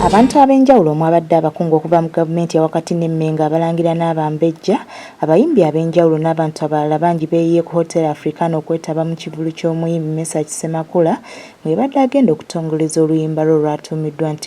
Abantu ab'enjawulo omwabadde abakungu okuva mu gavumenti ewakati ne Mmengo abalangira n'abambejja, abayimbi ab'enjawulo n'abantu abalala bangi beeyiye ku Hotel Africana okwetaba mu kivvulu ky'omuyimbi Mesach Ssemakula mwebadde agenda okutongoleza oluyimba lwe olwatuumiddwa nti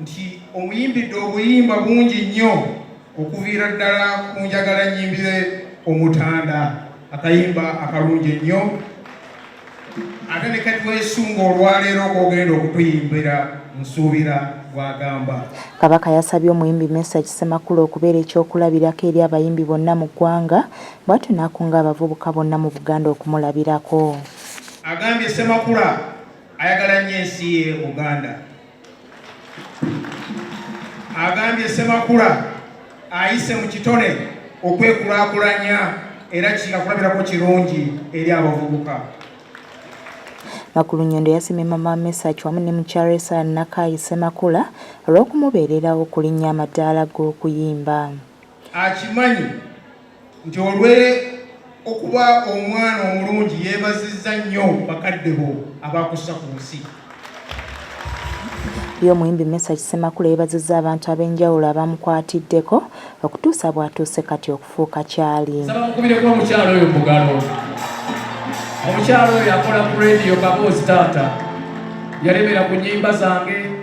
nti omuyimbidde obuyimba bungi nnyo okuviira ddala ku njagala nyimbire omutanda akayimba akalungi ennyo ate ne kati weesunga olwaleero kogenda okutuyimbira nsuubira bwagamba kabaka yasabye omuyimbi mesa kisemakula okubeera ekyokulabirako eri abayimbi bonna mu ggwanga bwatyo n'akunga abavubuka bonna mu buganda okumulabirako agambye semakula ayagala nnyo ensi ye buganda agambye Ssemakula ayise mu kitone okwekulakulanya era kyakulabirako kirungi eri abavubuka. Nakulunyondo yasimye Mama Mesach wamu ne mukyala Esara Nakaayi Ssemakula olw'okumubeererawo okulinnya amadaala g'okuyimba. Akimanyi nti olwe okuba omwana omulungi yeebazizza nnyo bakadde bo abakussa ku nsi ye omuyimbi mesa kisemakula yeebazizza abantu ab'enjawulo abamukwatiddeko okutuusa bw'atuuse kati okufuuka kyali mukubireko omukyalo oyo mugalo omukyalo oyo akola ku rediyo kaboozi taata yalemera ku nyimba zange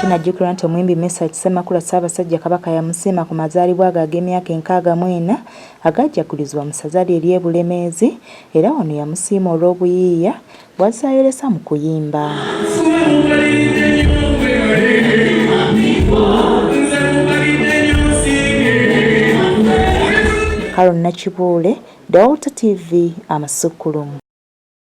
Kinajjukirwa nti omuyimbi Mesach Ssemakula Ssaabasajja Kabaka yamusiima ku mazaalibwa ge ag'emyaka enkaaga mu ena agajjagulizibwa mu ssaza lye ery'e Bulemeezi era wano yamusiima olw'obuyiiya bw'azze ayolesa mu kuyimba. Haron Nakibuule, Dawalta TV, Amasukkulumu.